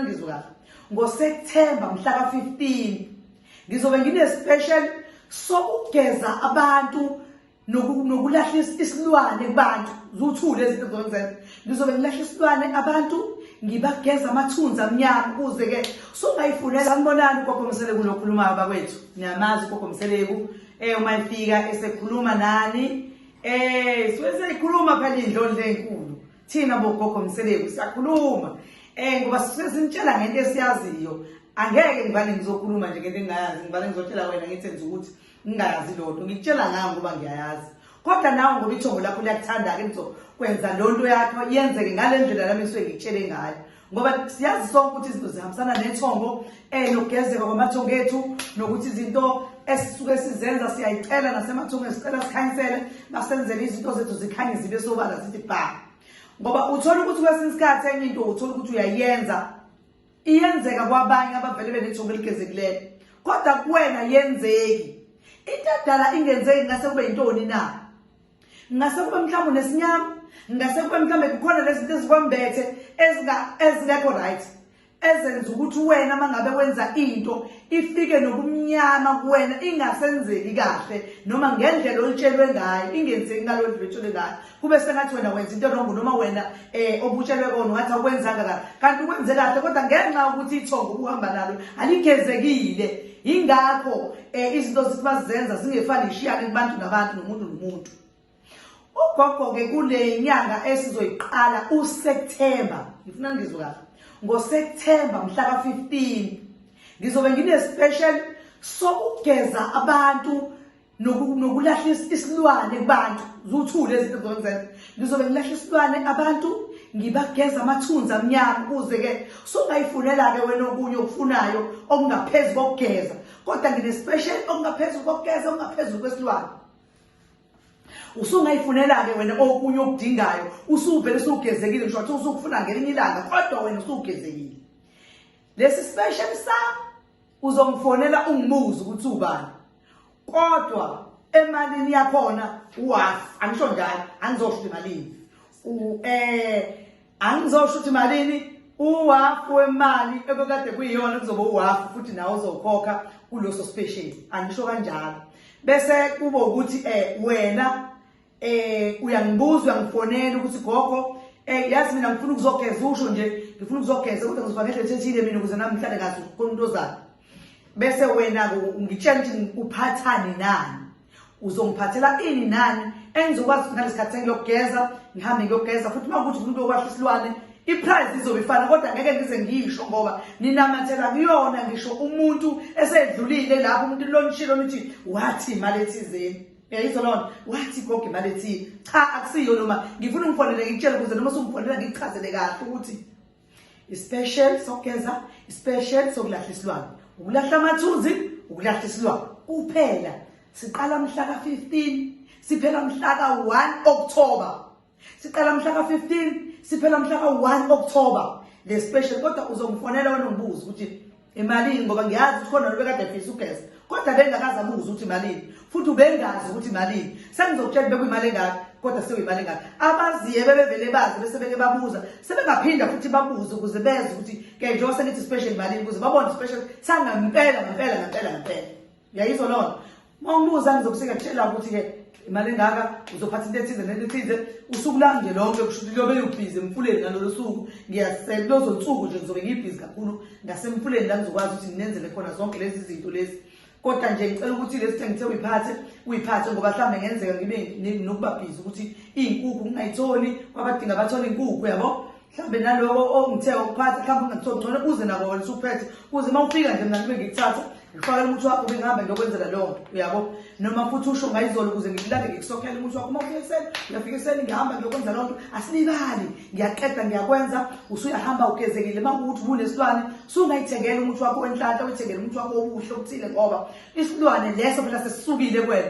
ngizwe kahle ngoseptemba mhla ka-15 ngizobe ngine-special sokugeza abantu nokulahla isilwane kubantu zuthule izinto zokwenzenza ngizobe ngilahla isilwane abantu ngibageza amathunzi amnyama ukuze-ke sungayifunela anibonani ugogo mseleku lokhulumayo bakwethu niyamazi ugogo mseleku um eh, uma efika esekhuluma nani um eh, siweseyikhuluma phela indlondla enkulu thina bogogo mseleku siyakhuluma um ngoba sisuke sinitshela ngento esiyaziyo angeke ngivane ngizokhuluma nje ngento engingayazi ngivane ngizotshela wena ngithi enza ukuthi ngingayazi loo nto ngikutshela ngayo ngoba ngiyayazi kodwa nawe ngoba ithongo lakho liyakuthanda-ke ngizokwenza loo nto yakho yenzeke ngale ndlela lami ngisuke ngikutshele ngayo ngoba siyazi sonke ukuthi izinto zihambisana nethongo um eh, nokugezeka kwamathongo ethu nokuthi izinto esisuke sizenza siyayicela nasemathongweni sicela sikhanyisele basenzele izinto zethu zikhanye zibe sobala zithi bha ngoba uthole ukuthi kwesinye isikhathi enye into uthole ukuthi uyayenza iyenzeka kwabanye abavele benethongo eligezekileyo kodwa kuwena yenzeki into edala ingenzeki ngase kube yintoni na ngase kube mhlawumbe nesinyama ngase kube mhlawumbe kukhona lezinto ezikwambethe ezingekho right ezenza ukuthi wena mangabe wenza into ifike nobumnyama kuwena ingasenzeki kahle noma ngendlela olitshelwe ngayo ingenzeki ngalo ndlela olitshelwe ngayo kube sengathi wena wenza into erongo noma wena um obutshelwe kona ungathi awukwenzanga kahle kanti ukwenze kahle kodwa ngenxa yokuthi ithongo ubuhamba nalo aligezekile yingakho um izinto zithi bazizenza zingefani ishiyane kubantu nabantu nomuntu nomuntu ugogo-ke kule nyanga esizoyiqala useptemba ngifuna ngizwe kahle ngoseptemba mhla ka-15 ngizobe nginespecial sokugeza abantu nokulahla isilwane kubantu zuthule izinto zokwenzenza ngizobe ngilahla isilwane abantu ngibageza amathunzi amnyama ukuze-ke sungayifunela-ke wena okunye okufunayo okungaphezu kokugeza kodwa nginespecial okungaphezulu kokugeza okungaphezulu kwesilwane usungayifunela-ke wena okunye okudingayo usuvele usugezekile ngisho kuthiwa usukufuna ngelinye ilanga kodwa wena usugezekile lesi special sami uzongifonela ungibuze ukuthi ubani kodwa emalini yakhona uwafi angisho njalo angizosho imalini um angizosho ukuthi malini uwafu wemali ebekade kuyiyona kuzoba uwafu futhi nawe uzokhokha kuloso special angisho kanjalo bese kube ukuthi eh wena eh uyangibuza uyangifonela ukuthi gogo eh yazi mina ngifuna ukuzogeza usho nje ngifuna ukuzogeza kodwa ngizofa ngedlela ethethile mina ukuze nami ngihlale kahle khona into zami bese wena ngitshela ukuthi uphathani nani uzongiphathela ini nani engizokwazi ukuthi ngalesikhathi sengiyogeza ngihambe ngiyogeza futhi uma ukuthi umuntu okwahla isilwane iprize izobe ifana kodwa ngeke ngize ngisho ngoba ninamathela kuyona ngisho umuntu esedlulile lapho umuntu lonishilo nithi wathi imali ethizeni yayizwa loo nto wathi gogo imali ethile cha akusiyo noma ngifuna ungifonele ngikutshele ukuze noma sungifondela ngikuchazele kahle ukuthi Ispecial sokugeza, ispecial sokulahla isilwane. Ukulahla amathuzi, ukulahla isilwane. Kuphela siqala mhla ka-15 siphela mhla ka-1 October. Siqala mhla ka-15 siphela mhla ka-1 October le special kodwa uzongifonela wena ngibuze ukuthi Imalini ngoba ngiyazi ukuthi khona lobekade efisa ugesi kodwa bengakazi abuze ukuthi imalini futhi ubengazi ukuthi imalini sengizokutshela bekuyimali engaka kodwa sewuyimali engaka abaziye bebevele bazi bese beke babuza sebengaphinda futhi babuze ukuze beze ukuthi ke njengoba sengithi special imalini ukuze babone special sangempela ngempela ngempela ngempela Ngiyayizwa lona. Uma umbuza ngizokuseka kutshela ukuthi ke imali engaka uzophatha into ethize nento ethize usuku lami nje lonke kusho ukuthi lobe yubhizi emfuleni ngalolo suku ngiyasela lozo nsuku nje ngizobe ngibhizi kakhulu ngasemfuleni la ngizokwazi ukuthi nginenzele khona zonke lezi zinto lezi kodwa nje ngicela ukuthi lesi thenge ngithe uyiphathe uyiphathe ngoba mhlawumbe ngenzeka ngibe nokubabhizi ukuthi iy'nkukhu ngingayitholi kwabadinga bathole iy'nkukhu yabo mhlawumbe naloko ongithe ukuphatha mhlawumbe ungathiwa ngcono kuze nako wena usuphethe kuze uma ufika nje mna kube ngikuthatha ngifakela umuthi wakho bengihamba ngiyokwenzela leyo nto uyabo noma futhi usho ngayizolo ukuze ngikulande ngikusokhela umuthi wakho uma ufika ekuseni uyafika ekuseni ngihamba ngiyokwenza leyo nto asilibali ngiyaqeda ngiyakwenza usuyahamba ugezekile uma kuwukuthi ubunesilwane sungayithengela umuthi wakho wenhlanhla uyithengele umuthi wakho obuhle okuthile ngoba isilwane leso phela sesisukile kwena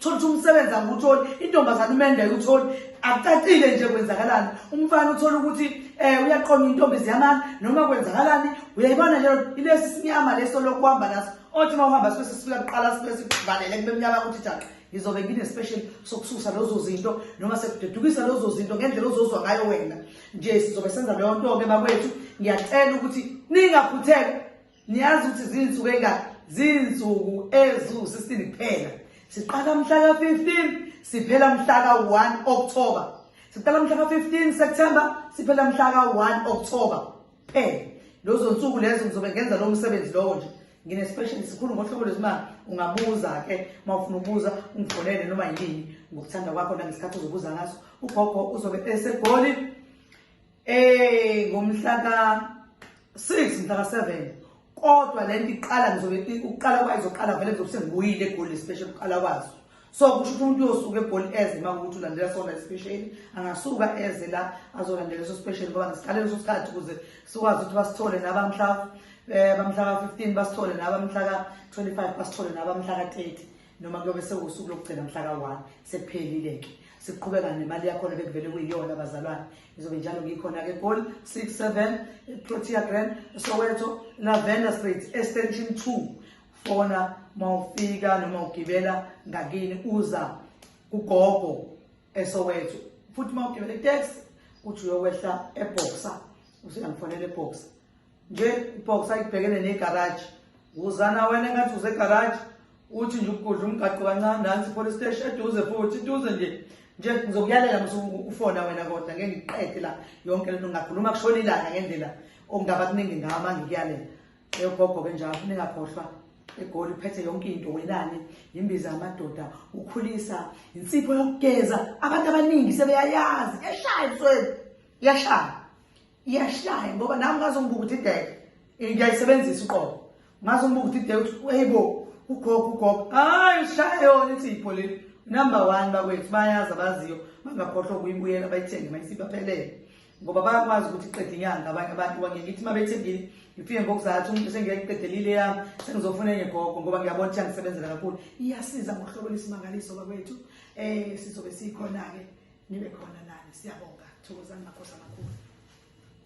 thola ukuthi umsebenzi angiwutholi intombazane umende ayutholi akucacile nje kwenzakalani umfana uthola ukuthi um uyaqonda intombi ziyamana noma kwenzakalani uyayibona nje ilesi sinyama leso lokuhamba naso othi uma uhamba sibe sesifika kuqala sibe sikuvalele kube mnyama ukuthi jaqe ngizobe ngine-special sokususa lezo zinto noma sekudedukisa lezo zinto ngendlela ozozwa ngayo wena nje sizobe senza leyo nto-ke bakwethu ngiyacela ukuthi ningaphutheka niyazi ukuthi zinsuku engaka zinsuku eziwu-16 kuphela siqala mhla ka-15 siphela mhla ka-1 october siqala mhla ka-15 september siphela mhla ka-1 october kuphela lozo nsuku lezo ngizobe ngenza lowo msebenzi lowo nje ngine-special sikhulu ngohlobo lwezimali ungabuza-ke uma ufuna ukubuza ungifonele noma yini ngokuthanda kwakho nangesikhathi uzobuza ngaso ugogo uzobe esegoli Eh ngomhla ka 6 mhla ka 7 kodwa lento iqala ngizobe uqala kwazo uqala vele ngizobe sengibuyile egoli special uqala kwazo so kusho ukuthi umuntu uyosuka egoli eze uma ukuthi ulandela sona special angasuka eze la azolandela leso special ngoba ngisikale leso sikhathi ukuze sikwazi ukuthi basithole nabamhla eh bamhla ka 15 basithole nabamhla ka 25 basithole nabamhla ka 30 noma kuyobe sewusuku lokugcina mhla ka-one sekuphelile-ke siqhubeka nemali yakhona bekuvele kuyiyona abazalwane izobe njalo ngikhona-ke goli six seven protea grand soweto lavender street extension two fona ma ufika noma ugibela ngakini uza kugogo esoweto futhi ma ugibela itex uthi uyokwehla eboxa usuyangifonela eboxa nje ibox ayibhekene negaraji wuzana wena engathi usegaraji uthi nje ukugudla umgaqo kancane nansi police station eduze futhi iduze nje nje ngizokuyalela musuku ufona wena kodwa ngeke ngiqede la yonke lento ngingakhuluma kushona ilanga ngendlela okungaba kuningi ngawo uma ngikuyalela eyogogo ke njalo ningakhohlwa egoli uphethe yonke into wenani yimbiza amadoda ukhulisa insipho yokugeza abantu abaningi sebeyayazi eshaya ebusweni iyashaya iyashaya ngoba nami ngaze ngibuka ukuthi ideke ngiyayisebenzisa uqobo ngaze ngibuka ukuthi ideke ukuthi eyibo ugogo ugogo hayi usishaya yona ithi ipholile number one bakwethu bayazi abaziyo bangakhohlwa ukuyibuyela bayithenge mayisibaphelele ngoba bayakwazi ukuthi qeda inyanga abanye abantu bangeke ithi uma bethembile ngifike ngokuzathu umuntu sengeke ngiqedelile yami sengizofuna enye gogo ngoba ngiyabona ukuthi angisebenzela kakhulu iyasiza ngohlobo lwesimangaliso bakwethu eh sizobe sikhona ke nibe khona nani siyabonga thokozani makhosi amakhulu